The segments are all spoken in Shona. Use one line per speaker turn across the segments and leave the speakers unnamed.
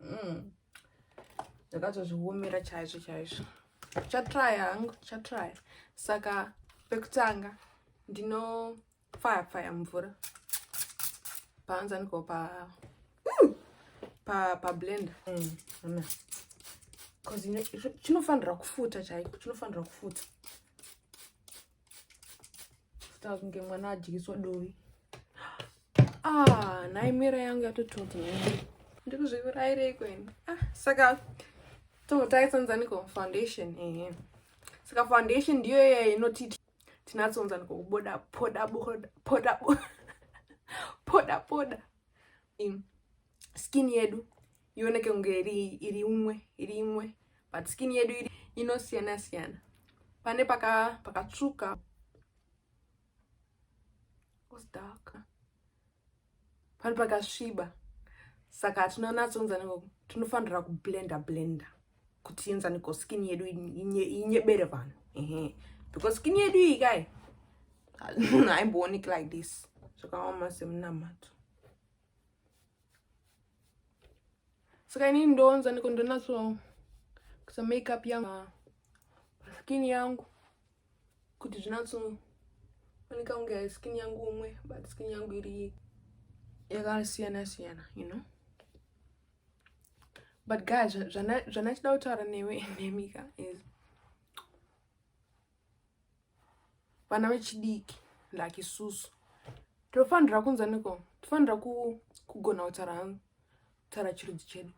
mm. ndakatozviomera chaizvo chaizvo chatry hangu chatry saka pekutanga ndinofaya faya mvura paanza ndiko pa mm. pa pa blender mm. mm. chinofanira kufuta chaiko chinofanira kufuta Saka kunge mwana adyiswa dovi. Ah, nhai mera yangu yatototi nhai. Ndikuzvivirayirei kweni. Ah, saka totai sanzaniko foundation ehe. Saka foundation ndiyo iya inoti tinatsonzaniko kuboda poda poda poda poda poda. skin yedu ioneke kunge iri iri imwe iri imwe but skin yedu iri inosiyana siyana pane paka pakatsvuka dark pane pakasviba saka tinonatsounzana ngoku tinofanira kublenda blenda kuti enzane ko skin yedu inyebere vanhu ehe because skin yedu iyi kai haimbooneki like this zvakaoma semunamato saka ini ndonza ndiko ndonatso kusa makeup yangu skin yangu kuti zvinatso oneka kunge skin yangu umwe but skin yangu iri yakasiyana siyana you know but guys zvanachida kutaura newe nemika is vana vechidiki like isusu tinofanira kunzwa neko tinofanira kugona kutaura hangu kutaura chirudzi chedu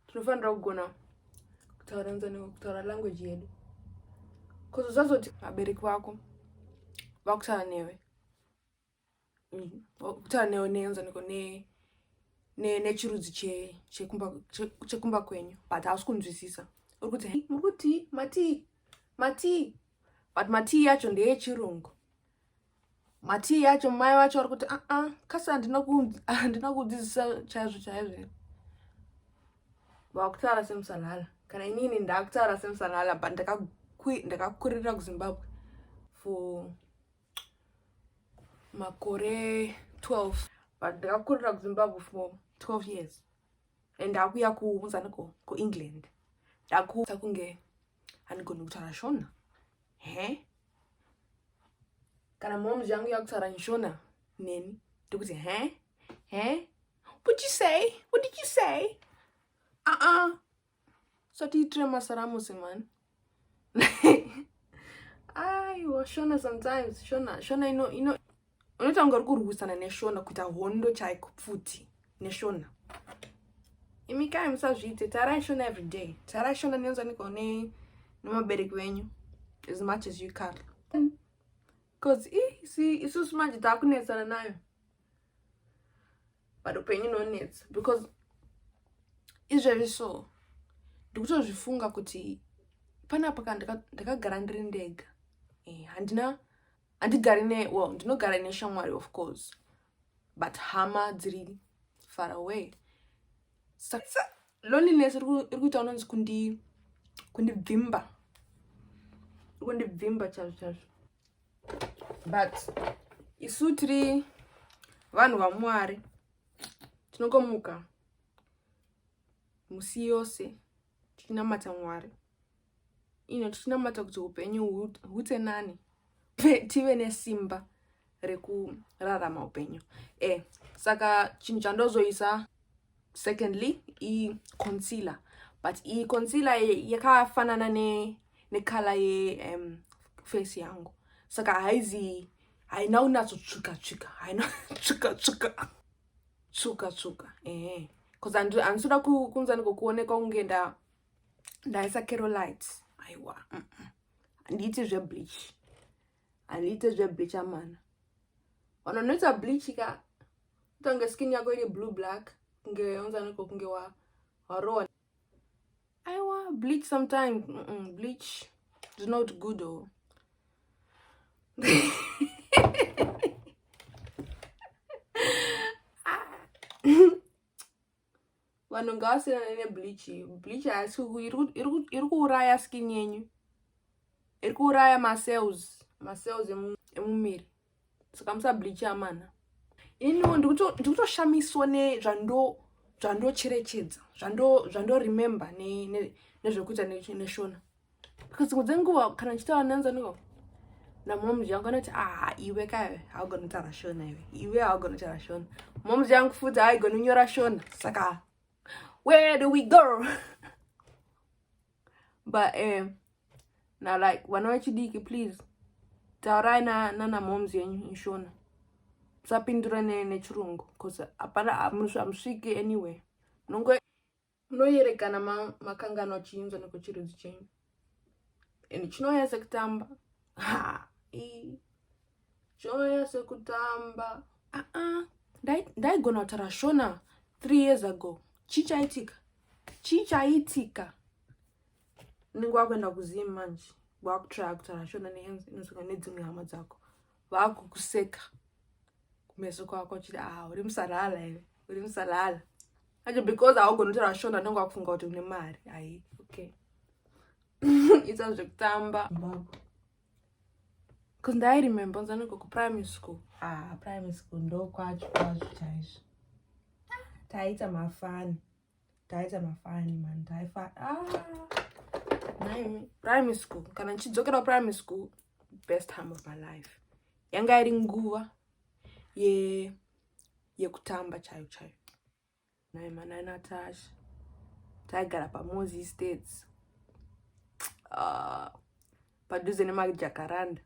tinofanira kugona kutaura nzwa neko kutaura language yedu bcause usazoti vabereki vako vakutaura newe kutaura ne, neenzaniko ne nechirudzi chekumba che, che kwenyu but hausi kunzwisisa uri kuti muri kuti matii matii but matii yacho ndeyechirungu matii yacho mai vacho vari kuti aa ah, ah, kasi handina kudzidzisa chaizvo chaizvo vakutaura semusanhala kana inini ndakutaura semusanhala but ndakakurira kuzimbabwe for makore 12 but ndakakurira kuzimbabwe for 12 years and ndakuya kuunzaniko kuengland ndakuta kunge handigoni kutaura shona he kana momz yangu yakutaura nshona neni ndikuti he he what you say what did you say uh-uh usatiitire masaramusi mani aiwa shona sometimes shona shona ino ino unoita kunge uri kurwisana neshona kuita hondo chaiko pfuti neshona imi kai musazviite tarai shona every day tarai shona nenzaniko ne nemabereki venyu as much as you can bcause isusu manje taakunetsana nayo but upenyu nonetsa because izvezvi so ndikutozvifunga kuti panapa ka ndakagara ndiri ndega eh, handina handigari ne well ndinogara neshamwari of course but hama dziri far away loneliness iri kuita unonzi kundi kundibvimba iri kundibvimba chazvo chazvo but isu tiri vanhu vamwari tinongomuka musi yose tichinamata mwari ino tichinamata kuti upenyu hute nani tive nesimba rekurarama upenyu e saka chinhu chandozoisa secondly iconcealer but iconcealer yakafanana nekala ye um, face yangu saka haizi haina unatsotsvuka tsvuka haina tsvuka tsvuka tsvuka tsvuka ehe bcause handisi kuda kunzani kokuonekwa kunge nda ndaisa kerolite aiwa handiiti mm -mm. zvebleach handiite zvebleach amana vanhu vanoita bleach ka utange skin yako iri blue black kunge onzaniko kunge warowa aiwa bleach sometime mm -mm, bleach is not good o oh. vanhu ngavasiyanane nebleach bleach haisi iri kuuraya skin yenyu iri kuuraya macells macells emumiri saka musa bleach amana iniwo ndikutoshamiswa nezvando zvandocherechedza zvandoremember nezvekuita neshona because dzimwe dzenguva kana ndichitaura nanzi aniko namomzi yangu anoti aha iwe kaive haugoni kutaura shona iwe iwe haugoni kutaura shona momzi yangu futi haigoni kunyora shona saka where do we go but um, na like vana vechidiki please taurai nana momzi yenyu inshona musapindura nechirungu bcause hapana hamusviki anyway munongo Munoyerekana ma, makanganwa chiinzwa nekuchirudzi chenyu and chinouya sekutamba chinouya sekutamba aa ndaigona kutaura shona three years ago chii chaitika chii chaitika unenge wakuenda kuzim manje wakutraya kutaura shona neinzwa nedzimwe hama dzako vakukuseka kumeso kwako chiti a ah, uri musarala here uri musarala Acho because haugoni kutaura shona ndonga wakufunga kuti une mari hai okay ita zvekutamba bcause ndairemember nzaniko kuprimary school ah primary school ndokwacho kwazvo chaizvo taiita mafani taiita mafani mani taifa ah, primary school kana ndichidzokera primary school best time of my life yanga iri nguva ye yeah. yekutamba chayo chayo naye manai natasha taigara pamozi states uh, ah, padhuze nemajakaranda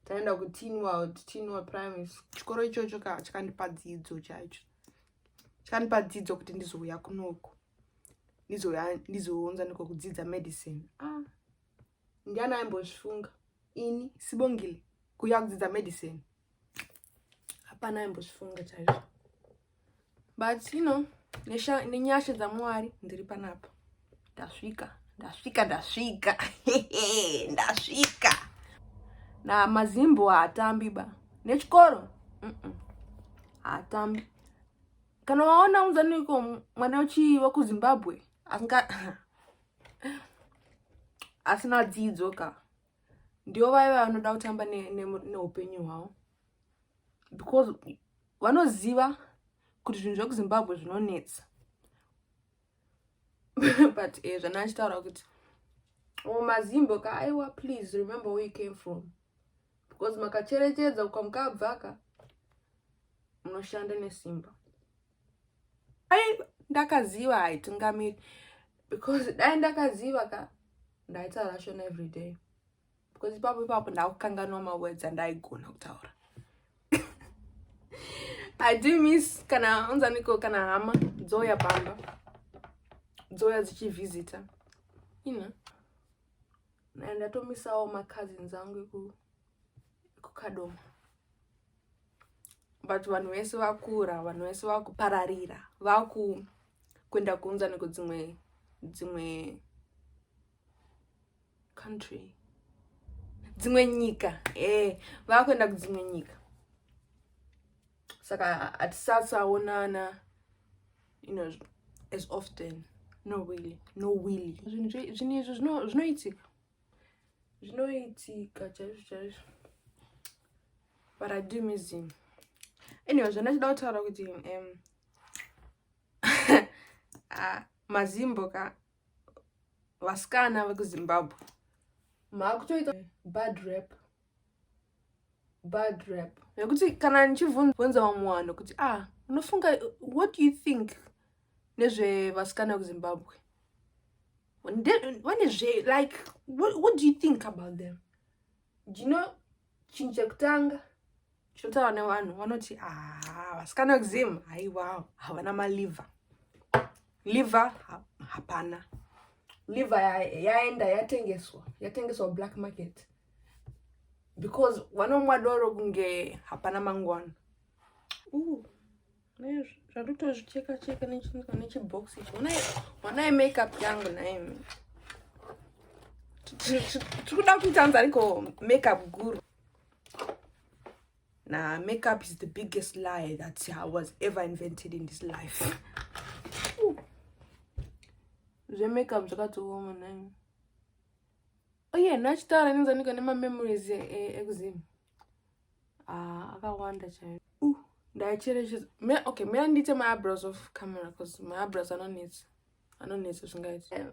taenda kutinwald tinwald primary chikoro ichocho ka chakandipa dzidzo chaicho chakandipa dzidzo kuti ndizouya kunoko ndizounza niko kudzidza medicine ah. Ndiani aimbozvifunga ini Sibongile kuuya kudzidza medicine? Hapana aimbozvifunga chaizvo. But you know, nenyasha dzaMwari ndiri panapa. Ndasvika, ndasvika, ndasvika. ndasvika. Na mazimbo haatambi ba. Nechikoro? Mm -mm. Haatambi. Kana waona unzaniko mwana wechiiva kuZimbabwe? Anga asina dzidzo ka ndivo vaiva vanoda kutamba neupenyu ne, ne hwavo because vanoziva kuti zvinhu zvekuzimbabwe zvinonetsa but e, zvana achitaura kuti o oh, mazimbo ka aiwa please remember where you came from because makacherechedza ukamukabvaka munoshanda nesimba ai ndakaziva haitungamiri because dai ndakaziva ka ndaitaura shona every day because ipapo ipapo ndakukanganwa mawords andaigona kutaura i do miss kana unzaniko kana hama dzouya pamba dzouya dzichivhizita ina ndatomisawo macousins angu ekukadoma but vanhu vese vakura vanhu vese vakupararira vaku kuenda kuunza neko dzimwe dzimwe country dzimwe nyika eh vakuenda kudzimwe nyika saka hatisasaonana you know as often no really no really zvinhu izvi zvinoitika zvinoitika chaizvo chaizvo but i do miss him anyway zvandachida kutaura kuti um, ah, mazimbo ka vasikana vekuzimbabwe maakutoita bad rap bad rap nekuti kana ndichibvunza vamwe vanhu kuti ah unofunga what do you think nezvevasikana kuzimbabwe vane zve like what, what do you think about them do you know chinhu chekutanga Chinotaura nevanhu vanoti ah, vasikana vekuzim haiwa havana maliva liva hapana liva yaenda yatengeswa yatengeswa black market because vanomwa doro kunge hapana mangwana zvandotozvicheka cheka nechibhox ichi wanai makeup yangu naimi tikuda kuita nzi ariko makeup guru na makeup is the biggest lie that i was ever invented in this life zvemakeup zvakatooma naimi oye oh, nachitaura inenzanika nemamemories ekuzimu eh, eh, ah, akawanda chaiyo uh, ndaicherechedza okay mea ndiite maabrows of camera bcause maabrows anonetsa anonetsa zvingaiti eh,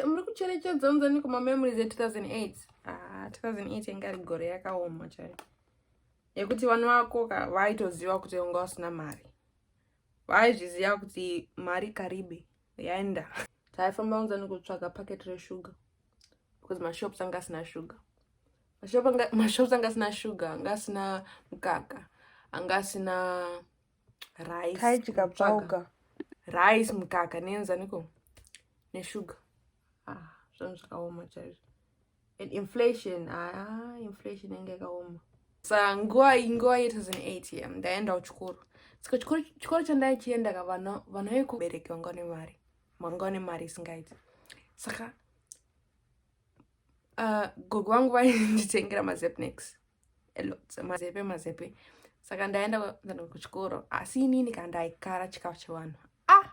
muri kucherechedza unzaniko mamemories e2008 ah, 2008 inga ri gore yakaoma chaiyo yekuti vana vako ka vaitoziva kuti unga usina mari vaizviziva kuti mari karibe yaenda taifamba unza nekutsvaga packet resugar because mashops anga asina sugar mashops anga asina sugar anga asina mukaka anga asina ricekatsvauka
rice
mukaka neenzaniko nesugar ah, zvanhu zvakaoma chaizvo and inflation ah, inflation yanga yakaoma sa nguva nguva ye 2008 ye ndaenda kuchikoro saka chikoro chandaichienda ka vana vekubereki vanga nemari vanga nemari isingaiti saka uh, gogo vangu vainditengera mazepnex alot mazepe mazepe saka ndaenda kuchikoro asi inini ka ndaikara chikafu chevanhu ah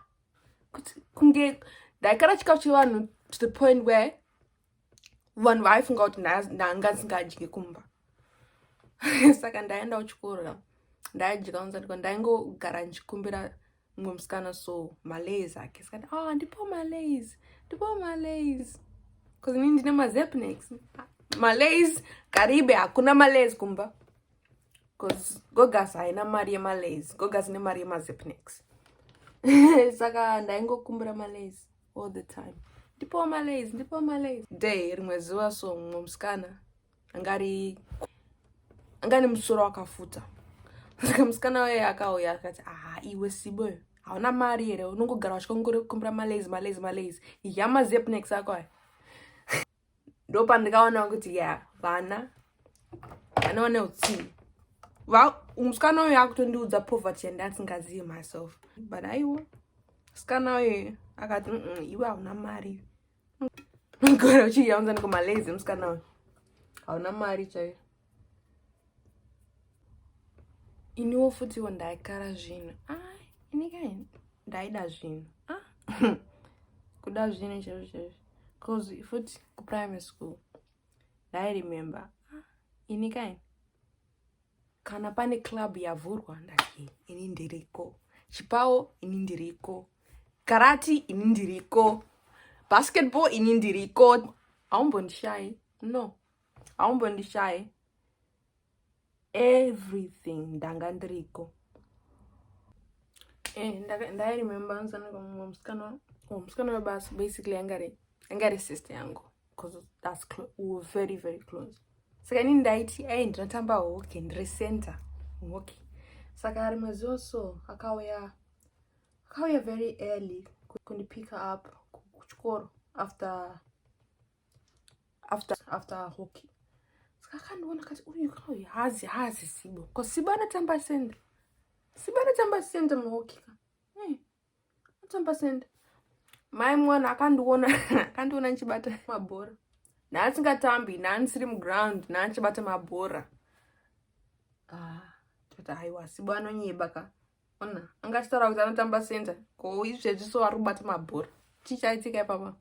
kunge ndaikara chikafu chevanhu to the point where vanhu vaifunga kuti ndanga ndsingadye kumba saka ndaenda kuchikoro ndaidya unzatiko ndaingogara ndichikumbira mumwe musikana so malays ake sikati oh ah, ndipo malays ndipo malays bcause ini ndine mazepnex malays karibe hakuna malays kumba bcause gogas haina mari yemalays gogas ine mari yemazepnex saka ndaingokumbira malays all the time ndipo malays ndipo malays day rimwe zuva so mumwe musikana anga ari anga ane musoro wakafuta saka musikana waye akauya akati aha iwe sibo hauna mari here unongogara vachikongorekumbira malazy malazy malazy ya mazepnex ako aya ndo pandikaona kuti ya vana vana vane utsinyi musikana uyo akutondiudza poverty yandi asingazivi myself but aiwa musikana uyo akati iwe hauna mari Mgora uchiyaunza niko malazy musikana uyu. Hauna mari chaiyo. Iniwo futiwo ndaikara zvinhu. Ah, ini kai ndaida zvinhu. Ah. Kuda zvinhu chaizvo chaizvo. Cause futi ku primary school. I remember. Ah, ini kai kana pane club yavhurwa ndati ini ndiriko chipawo ini ndiriko karati ini ndiriko basketball ini ndiriko haumbondishayi no haumbondishayi everything ndanga ndiriko eh, ndairemember nzanaka mumwe musikana oh, musikana webasa basically angari angari sister yangu because that's close we were very very close saka ini ndaiti ai ndinotamba hockey ndiri center hockey saka rimwe zuva so akauya akauya very early kundipicker up kuchikoro after after after hockey saka akandiona kati uyu kauyu hazi hazi sibo bcause sibo anotamba center sibo anotamba center muhockey ka Tsamba senda. Mai mwana akandiona akandiona ndichibata mabhora. Naasingatambi, naanisiri muground, naanichibata mabhora. Ah, tata haiwa sibo anonyeba ka. Ona, angachitaura kuti anotamba senda. Ko izvezvi so ari kubata mabhora. Chii chaitika ipapa?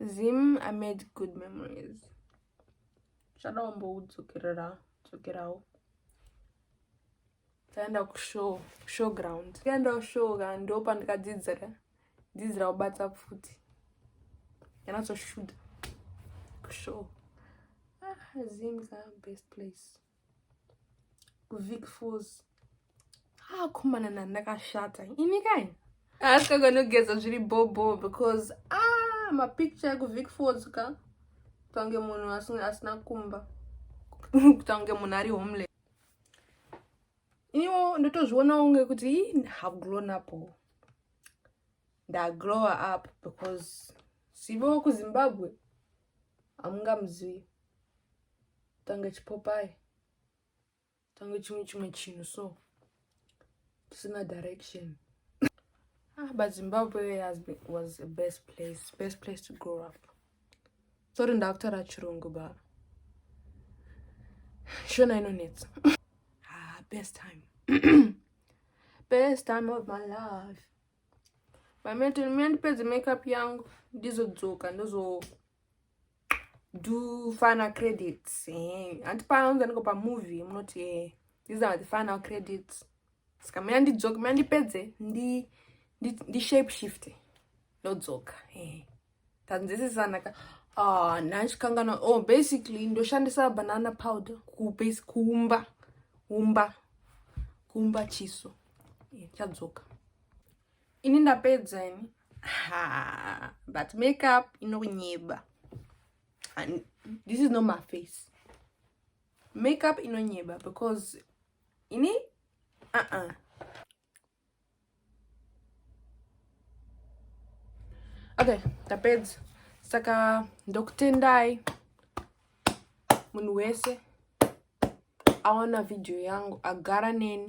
Zim I made good memories. Shadawo mboudzokerawo. taenda kushow show ground tikaenda kushow ka ndo pandikadzidzira dzidzira kubata pfuti yanatoshuta kushow ah, zim is our best place kuvic falls ah komana na ndakashata ini kai asikaganogeza zviri bobo because ah mapicture ekuvic falls ka kutange munhu asina kumba kutange munhu ari homeless iniwo ndotozvionawo kunge kuti have grown up ndagrower up because sivo kuzimbabwe hamungamuzivi tange chipopai tange chimwe chimwe chinhu so tusina direction ah, but zimbabwe has been, was a best place best place to grow up tori ndakutaura chirungu ba shona inonetsa ah, best time best time of my life mameto mandipedze makeup yangu ndizodzoka ndozo do final credits eh, hanti paunza ndiko pamovie munoti eh, these are the final credits saka mina ndidzoke mina ndipedze ndi ndishape ndi shift ndodzoka eh, tanzisisanaka ah, ndandikanganwa oh basically ndoshandisa banana powder kubase kuumba umba kuumba chiso chadzoka Ini ndapedza ini. Ha, but makeup inonyeba. And this is not my face. Makeup inonyeba because ini uh -uh. Okay, ndapedza. Saka ndokutendai munhu wese awana video yangu agara neni